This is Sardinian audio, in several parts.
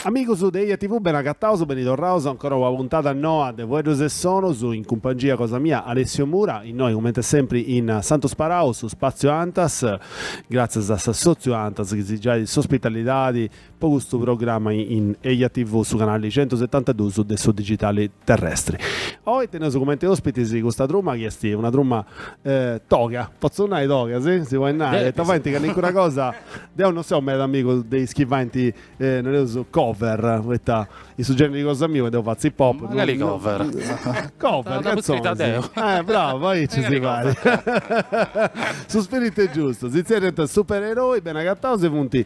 Amigus de Eja TV beni agataus, beni torraus ancora una puntada noa de Fueddus e Sonus in cumpangia cosa mia Alessio Mura, innoi comente sempri in Santu Sparau, su spaziu Antas, gratzias a s'assotziu Antas chi si giait s'ospitalidadi Po custu programma in Eja TV su canali centusetantaduus de su digitali terrestri. Oi teneus comente ospitis custa truma chi est una truma toga, potzu nai toga si? Si podit nai poita faint callincuna cosa, deu non seu meda amigu de is chi faint nareus cover poita in su generi cosa miu ca deu fatzu hip hop, mancari cover, cover cantzonis, eh bravo aici si fait su spiritu est giustu, si zerriant supereroi beni agataus e funt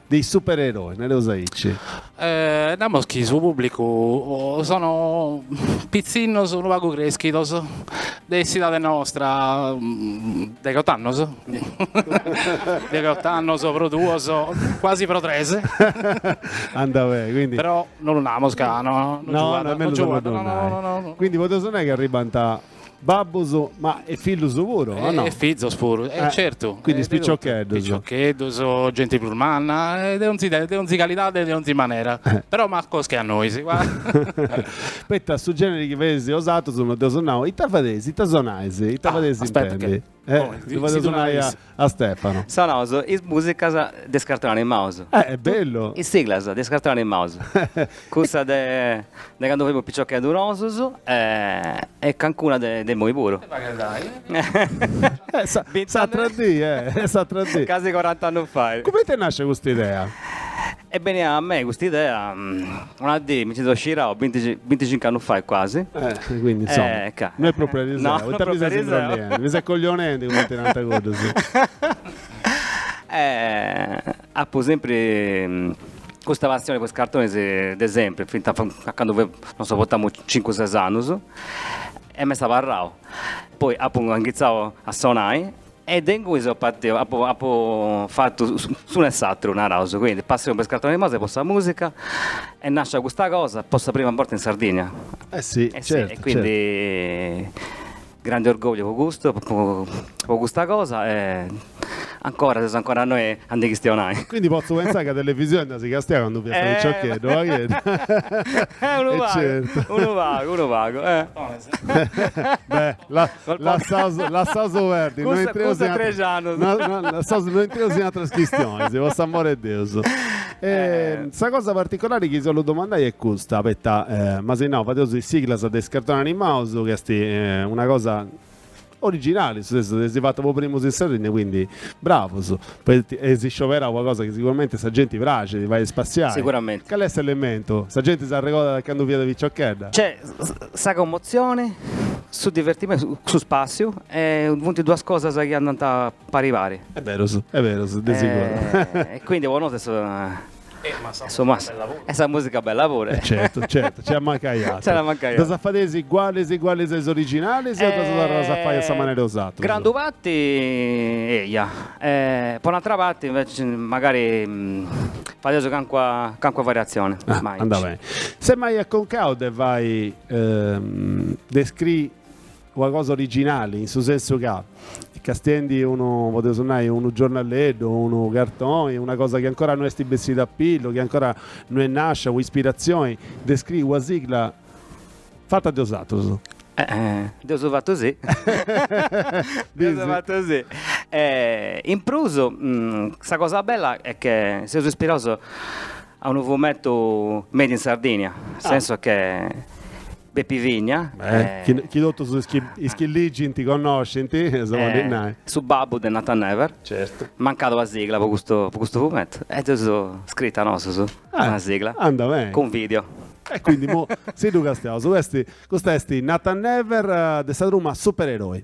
De is supererois, nareus aici. Namus chi su pùblicu sono pitzinnos unu pagu crèschidos de s'idade nostra, degheott'annos, degheott'annos pro duos, cuasi pro tres. Andat beni, quindi. Però non lu namus ca non giugat, non giugat, no no no. Quindi podeus nai chi arribant. babbos ma e fillus puru o no? E fizos puru, e certu. Quindi is piciocheddus. Piciocheddus, genti prus manna, de onzi de onzi calidade e de onzi manera, però macos che a nois. Poita su generi chi fadeis bosatrus no dd'eus nau, ita fadeis, ita sonais, ita fadeis intendi? Eh, Oh, ddu fadeus nai a Stefano. Sonaus is musicas de is cartoni animaus. Eh, est bellu! Is siglas de is cartoni animaus. Cussa de de candu femus piciocheddus nosus e e cancuna de de immoi puru. Eh, sa- Bint'annus- s'atera dì, eh, s'atera dì. Casi corant'annus fai. Cumenti nascit custa idea? Est benia a mei custa idea una dì, mi nci so scirau binti binticincu annus fai quasi. E quindi insomma, e ca, no est propriu ariseu, no, ita mi ses imbrolliendi, mi ses coglionendi cumenti nant cuddus. E apu sempri custa passioni po is cartonis de sempri, finta a candu fia, non so, potamu cincu ses annus e m'est abarrau. Poi apu inghitzau a sonai E de ingunis apo patiu, apo apo fatu s'unu e s'aturu, naraus, quindi passioni po is cartonis animaus e po sa musica est nascia custa cosa po sa prima borta in Sardigna. Eh si, eh certu, e quindi certu. grandi orgogliu po custu, po custa cosa e ancora seus ancora innoi a ndi chistionai. Quindi potzu pentzai ca televisioni dd'as castiada candu fiast piciocheddu, pagheddu. Unu pagu, unu pagu, unu pagu. Beh, Lassaus, lassaus perdi, no intreus in tres annus. No, no, lassaus, no intreus in atras chistionis, po s'amori 'e Deus. E sa cosa particolari chi si 'ollu domandai est custa, poita m'as nau, fadeus is siglas de is cartonis animaus, chi est una cosa originali, seis stètius, si fatu po primus in Sardigna, quindi bravus. Poita est iscioberau una cosa chi siguramente sa genti praxit, fait spassiai. Cale est s'elementu? Sa genti s'arregodat de candu fiat piciochedda? Nc'est sa commotzioni, su divertimentu, su spassiu e funt duas cosas chi andant pari pari. Est berus, est berus, de siguru. E quindi po nosu est. E su mas. E sa musica bella pure. E certu, certu, ci at a mancai atru. Ci at a mancai atru. Ddas fadeis igualis igualis a is originalis o ddas torrais a fai a sa manera 'e osatrus? Grandu parti eia. Po un'atra parti inveci magari fadeus cancua cancua variazioni. Andat beni. Eis mai acconcau de fai de scrii Una cosa originali, in su sensu ca, castiendi unu, podeus nai, unu giornaleddu o unu cartoni, una cosa chi ancora no est bessida a pillu, chi ancora no est nàscia un'ispiratzioni, de scriri una sigla fata de osatrus. Dd'eus fatu, sì. Dd'eus fatu, sì. E in prus, sa cosa bella est che seus ispiraus a unu fumettu made in Sardigna, in su sensu che Bepi Vigna. Chi chi totus is chi is chi ligint connoscint, sa bolint nai. Su babbu de Nathan Never. Certu. Mancàt una sigla po custu po custu fumettu e dd'eus scrita nosus una sigla. Andat beni. Cun video. E quindi imoi si ddu castiaus. Custa est Nathan Never de sa truma Supereroi.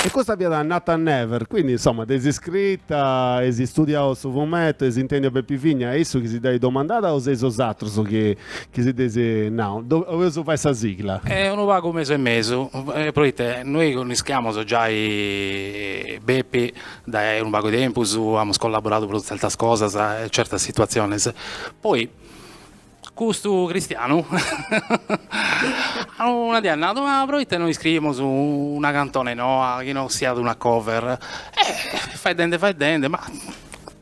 E custa fiat Nathan Never, quindi insoma dd'eis iscrita, eis istudiau su fumetu, eis intendiu a Bepi Vigna, est issu chi si dd'at domandada o seis osatrus chi si dd'eis nau? Oleus fai sa sigla. Est unu pagu mesu e mesu, proite noi connischiamus giai Bepi Dae unu pagu 'e tempus amus collaboradu pro tzertas cosas e tzertas situatziones, poi custu Cristian una die at nadu, ma pro ite no iscriimus una cantone noa chi no siat una cover, e faeddende faeddende, ma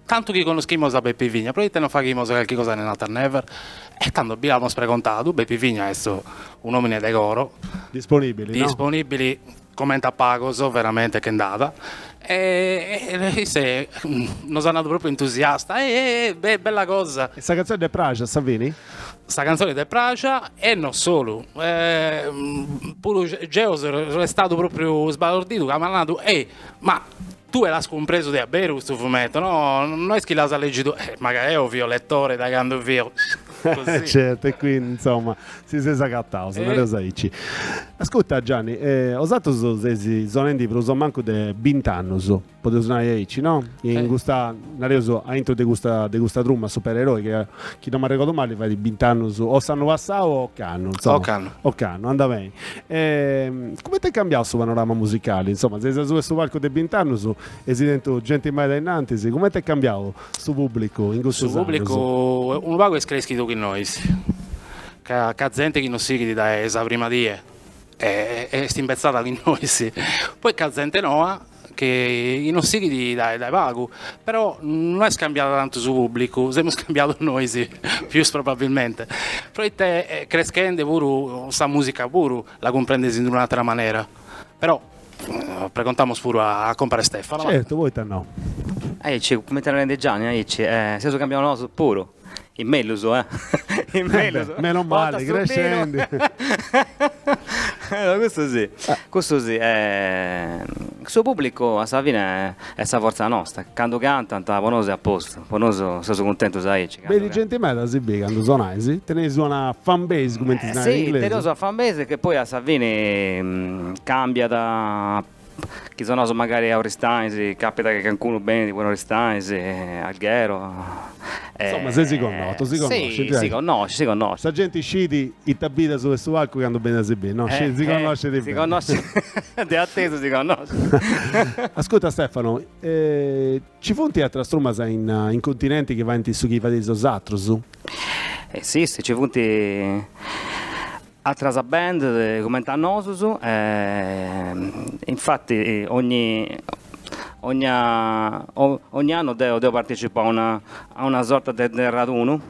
tantu chi connoschimus a Bepi Vigna pro ite no faghimus carchi cosa in Nathan Never, e tando bi amus pregontadu, Bepi Vigna est un'omine de coro, disponibili comente a pagos veramente che nd'at e isse nos at nadu propriu entusiasta, eh eh eh be bella cosa. E sa cantzone dd'est praxia a sa fini? Sa cantzone dd'est praxia e non solu, puru geo so istadu propriu sbalordidu ca m'at nadu, ehi ma Tue l'as cumpresu de a beru custu fumetu, no? No est chi l'as leghidu, eh, magari eo fio letore dae cando fio così. Certu, e quindi, insomma, si seis agataus, nareus aici. Ascurta, Gianni, osatrus seis sonendi prus o mancu de bint'annus, podeus nai aici, no? In custa, nareus, aintru de custa de custa truma supereroi, ca chi non m'arregordu mali fait bint'annus o s'annu passau o ocannu, insomma. Ocannu. Ocannu, andabeni. E comente est cambiau su panorama musicali? Insoma, seis asuba 'e su palcu de bint'annus eis tentu genti meda innantis, comente est cambiau su pubblicu in custus annus? Su pubblicu unu pagu est creschidu chin nois, b'at zente chi nos sighit dae sa prima die est imbetzada chin nois, poi b'at zente noa chi nos sighit dae dae pagu, però no est cambiadu tantu su pùblicu, semus cambiados nois pius probabilmente, proite creschende puru sa mùsica puru la cumprendes in un'àtera manera, però pregontamus puru a compare Stefano. Certu, poita no. Aici, comente est narende Gianni, aici seus cambiados nosu puru. In mellus eh. In mellus. Meno male, crescendi. Custu si, custu si. Su pubblicu a sa fine est sa fortza nosta, candu cantant po nosu est a postu, po nosu seus cuntentus aici. Beni genti meda a si biri candu sonais, teneis una fan base cumenti si narat in inglesu. Si, teneus una fan base che poi a sa fini cambiat Chi sonaus magari a Oristanis, capita chi cancunu benit puru in Oristanis, Alghero. Insomma seis connotus, si connoscint. Si, si connoscint, si connoscint. Sa genti scit ita bit asuba de su palcu candu benit a si biri, no? Scit, si connoscit beni. Si connoscit, de atesu si connoscint. Ascurta Stefano, ci funt atras trumas in in continenti chi faint su chi fadeis osatrus? Si, si, ci funt. Atras bands comente a nosus e infatti ogni ogni ogni annu deo deo partecipo a una a una sorta de de radunu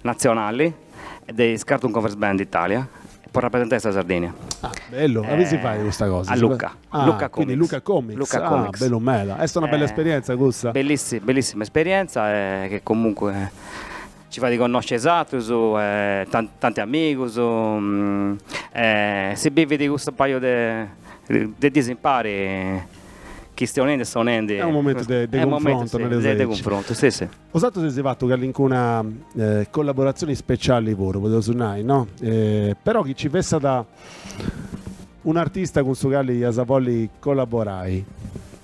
natzionali de is Cartoon Covers Band Italia po rapresentai sa Sardigna. Ah, bellu. Aundi si fait custa cosa? A Lucca. Ah, Lucca quindi Comics. Lucca Comics. Lucca ah, Comics. bellu meda. Est una bella Eh, esperienza cussa? Bellissi- bellissima esperienza e che comunque Ci fati connosci is atrus tanti amigus e si bividi custu paju de de dis impari chistionendi e sonendi. Est unu momentu de de cunfrontu nareus aici. De cunfrontu si si. Osatrus eis fatu callincuna collaboratzioni speciali puru podeus nai no? Però chi ci fessat un'artista cun su cali eis a bolli collaborai.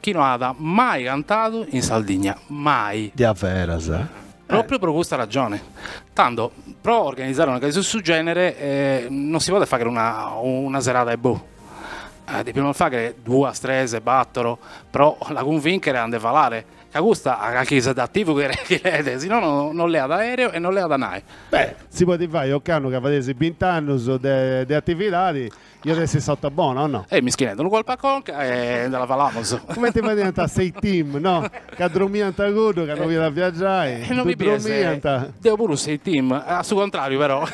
Chi no at mai cantadu in Sardigna, mai. Diaveras? Pròpriu pro custa ragione. Tando, pro organizare una cosa 'e su gènere non si podet fàghere una una serada e boh. Depimus fàghere duas, tres, bàtoro pro la cunvìnchere a nde falare, ca custa a carchi sedativu che che leet, si no no non leat aèreo e non leat nai. Beh, si podit fai ocannu ca fadeis bint'annus de de atividadi. Iat essi s'ota bona, o no? E mischinedda unu colpu a conca e nde la falamus. Cumenti fadiant a s'A-Team, no? Ca dromiant cuddu ca no fiat a viagiai, ddu dromiant. Deu puru s'A-Team, a su contrariu però,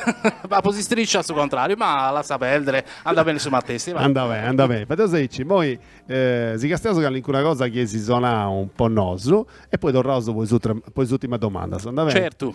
apu s'istriscia a su contrariu, ma lassa perdere, andat beni su matessi. Andat beni, andat beni. Fadeus aici, immoi si castiaus calincuna cosa chi eis sonau po nosu e poi torraus po is po is ùtimas domandas, andat beni? Certu.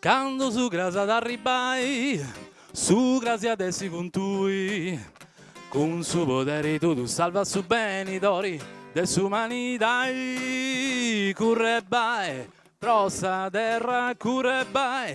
Cando su cras at arribbai su cras at essi cun tui cun su poderi tuu salvas su benidori de s'umanidai curre bai pro sa terra curre bai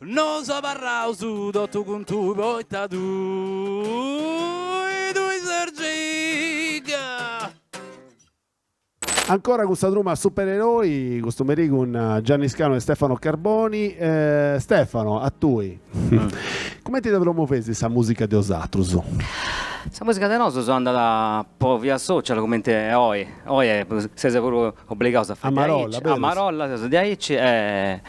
Nos abarraus totu cun tui poita tui, tui ses Jeeg. Ancora cun sa truma Supereroi, custu merì cun Gianni Scano e Stefano Carboni. Stefano, a tui. Cumenti dda promoveis sa musica de osatrus? Sa musica de nosus andat po via social cumenti e oi. Oi seus puru obligaus a fai diaici, a marolla seus diaici e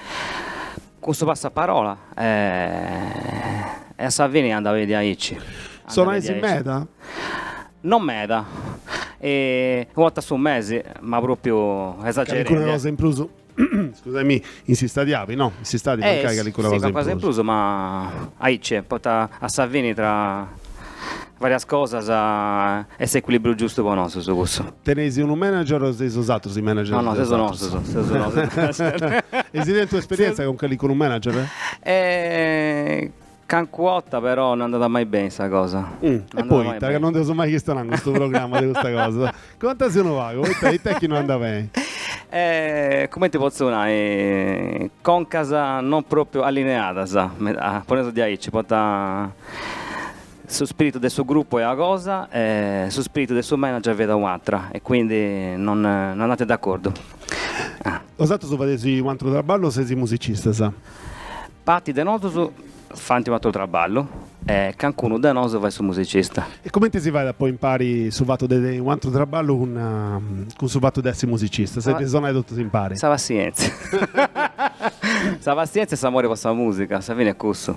cun su passaparola e a sa fini andat diaici. Sonais meda? Non meda, una 'orta a su mesi, ma propriu esagerende. Calincuna cosa in prus? Scusami, in s'istadi api, no, in s'istadi mancai calincuna cosa in prus. Eh, si, calcosa in prus, ma aici, poita a sa fini tra varias cosas est s'equilibriu giustu po nosus cussu. Teneis unu manager o seis osatrus is managers de osatrus? No, no, seus nosus, seus nosus. Eis tentu esperienza cun calincunu manager? Eh, Cancua 'ota però no andat mai beni sa cosa. E poita ca no nd'eus mai chistionau in custu programma de custa cosa. Contasì unu pagu, poita ita est chi no andat beni? Cumenti potzu nai, concas non propriu allineadas, meda, poneus diaici, poita su spiritu de su grupu est una cosa e su spiritu de su manager fiat u'atra e quindi non non andant d'acordu. Osatrus fadeis u' atru traballu o seis musicistas? Parti de nosus faint un'atru traballu e cancunu de nosu fait su musicista. E comenti si fait a poi impari su fatu de un'atru traballu cun cun su fatu de essi musicista? Su de sonai totus impari? Sa passientzia. Sa passientzia e s'amori po sa musica, sa fini est cussu.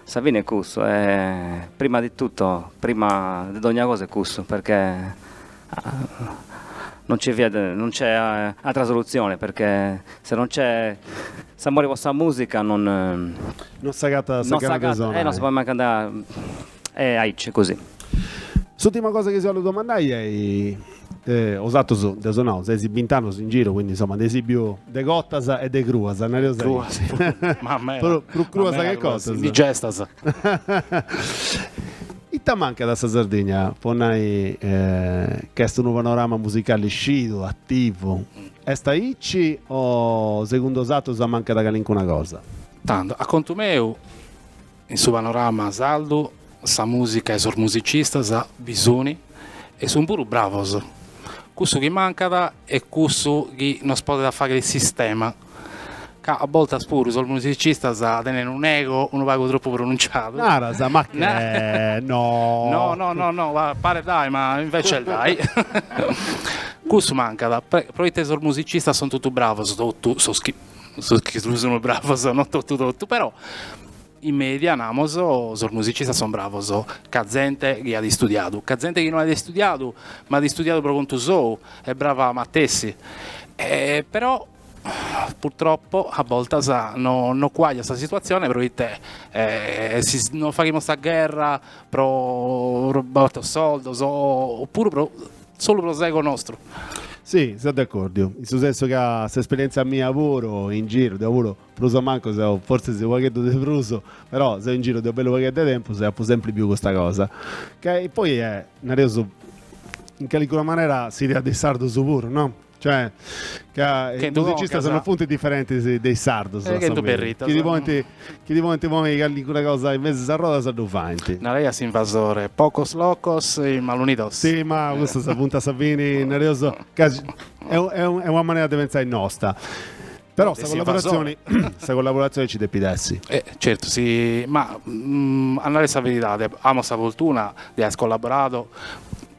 Sa fini est cussu e prima di tutto, prima de dogna cosa est cussu, perchè non nci fiat, non nc'est atra solutzione, perchè se non nc'est s'amore po sa musica non. Non s'agatat sa gana de sonai. Eh non si podet mancai andai e aici, così. S'ultima cosa chi si 'ollu domandai est, osatrus deu seu nau seis bint'annus in giru, quindi insomma nd'eis biu de cotas e de cruas, nareus aici. Cruas si, ma meda. Prus cruas che cotas. Indigestas. Ita mancat a sa Sardigna po nai ca est unu panorama musicali scidu, ativu? Est aici o segundu osatrus mancat calincuna cosa? Tantu, a contu meu, in su panorama sardu sa musica e sos musicistas bi suni e sun puru bravos. Cussu chi mancat est cussu chi nos podet fagher sistema. ca a boltas puru sos musicistas tenent unu ego unu pagu tropu pronunciadu. Naras, ma che? No. No, no, no, no, paret dae, ma invece est dae. Cussu mancat, pro ite sos musicistas son totu bravos, totu sos chi, sos chi sun bravos, no totu totu, però In media, namus, sos musicistas son bravos ca zente chi at istudiadu, ca zente chi non at istudiadu ma at istudiadu pro contu sou est brava matessi, però purtroppo a boltas non cuagliat sa situatzione pro ite si nos faghimus sa gherra pro bator soldos o puru pro solu pro s'ego nostru. Si, seu de accordiu, in su sensu ca s'esperientzia mia puru in giru deo puru Prus o mancu seu, forsis u' pagheddu de prus, però seu in giru de u' bellu pagheddu 'e tempus e apu sempri biu custa cosa. Chi poi est, nareus, in calincuna manera s'idea de is sardus puru, no? Cioè, ca is musicistas no funt diferentis de is sardus, a sa fini. Chi ddi ponint, chi ddi podint ponni calincuna cosa in mesu 'e sas rodas ddu faint. Naraiat s'invasore, pocos locos e mal unidos. Si, ma custas funt a sa fini, nareus, ca est est una manera de pentzai nosta. Però sa collaboratzione, sa collaboratzione ci depit essi. Eh, certu, si, ma mm, a narrer sa veridade, amos sa fortuna de aer collaboradu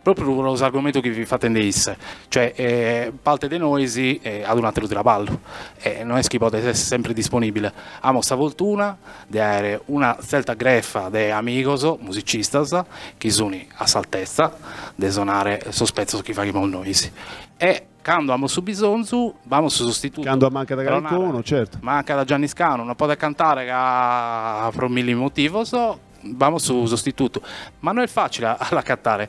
propriu pro s'argumentu chi fit fatende isse, cioè eh, parte de nois eh, at un'ateru traballu e no est chi podet esser sempre disponibile. Amos sa fortuna de aer una tzerta grefa de amigos musicistas chi sunt a s'altezza de sonare sos petzos chi faghimus nois e Cando amus su bisonzu b'amus su sostitutu. Cando mancat calincunu, certu. Mancat Gianni Scanu, non podet cantare ca pro milli motivos, b'amus su sostitutu. Ma no est facile a l'accatare.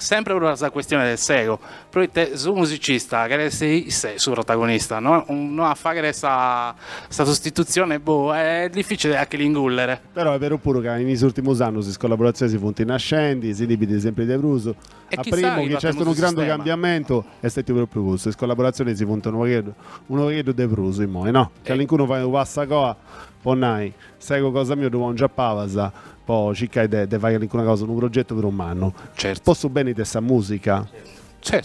Sempre pro sa questione de s'ego, proite su musicista cheret essere isse su protagonista, no no a faghere sa sa sostituzione boh, est difficile a che l'ingùllere. Però est beru puru ca in is urtimus annus is collaboraziones funt nascendi, si ndi bit sempre de prus. A primu chi nc'est unu grandu cambiamentu est stetiu pròpriu custu, is collaboratzionis si funt unu pagheddu, unu pagheddu de prus immoi, no? Calincunu fait unu passu a coa, podit nai, s'ego cosa miu ddu pòngiu a pabas po circai de de fai calincuna cosa, unu progetu prus mannu, po su beni de sa musica,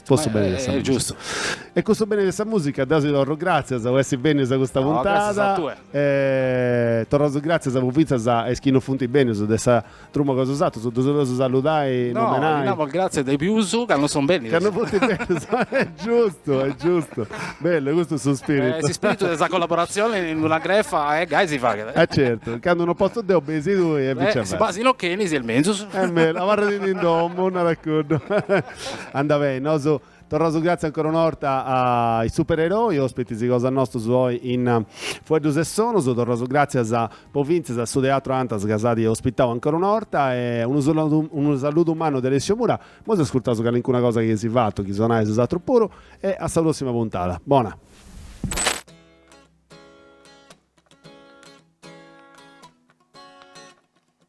po su beni de sa musica. E cun su beni de sa musica deu si torru gràtzias po essi bènius a custa puntada e torraus gràtzias pofintzas a is chi non funt bènius de sa truma cosa 'e 'osatrus, ddus 'oleus saludai, no, nomenai? ddi namus gratzias de prus ca no sunt bennius. Ca no funt bennius, est giustu, est giustu. Bellu, custu est su spiritu. S'ispiritu de sa collaboratzioni in una grefa e gai si faghet. E certu, candu no potzu deu benis tui e vice versa. Si bàsinu chi non benis est menzus. Medas, abarra·ti in domu, narat cuddu. Andat beni, nosu Torraus gratzias ancora una 'orta a is supereroi, ospitis cosa nostus oi in Fueddus e Sonus. Torraus gratzias pofintzas a su Teatru Antas ca s'at ospitau ancora una 'orta e unu saludu unu saludu mannu de Alessio Mura. Moi s'ascurtaus calincuna cosa chi eis fatu, chi sonais 'osatrus puru e a sa prossima puntada. Bona.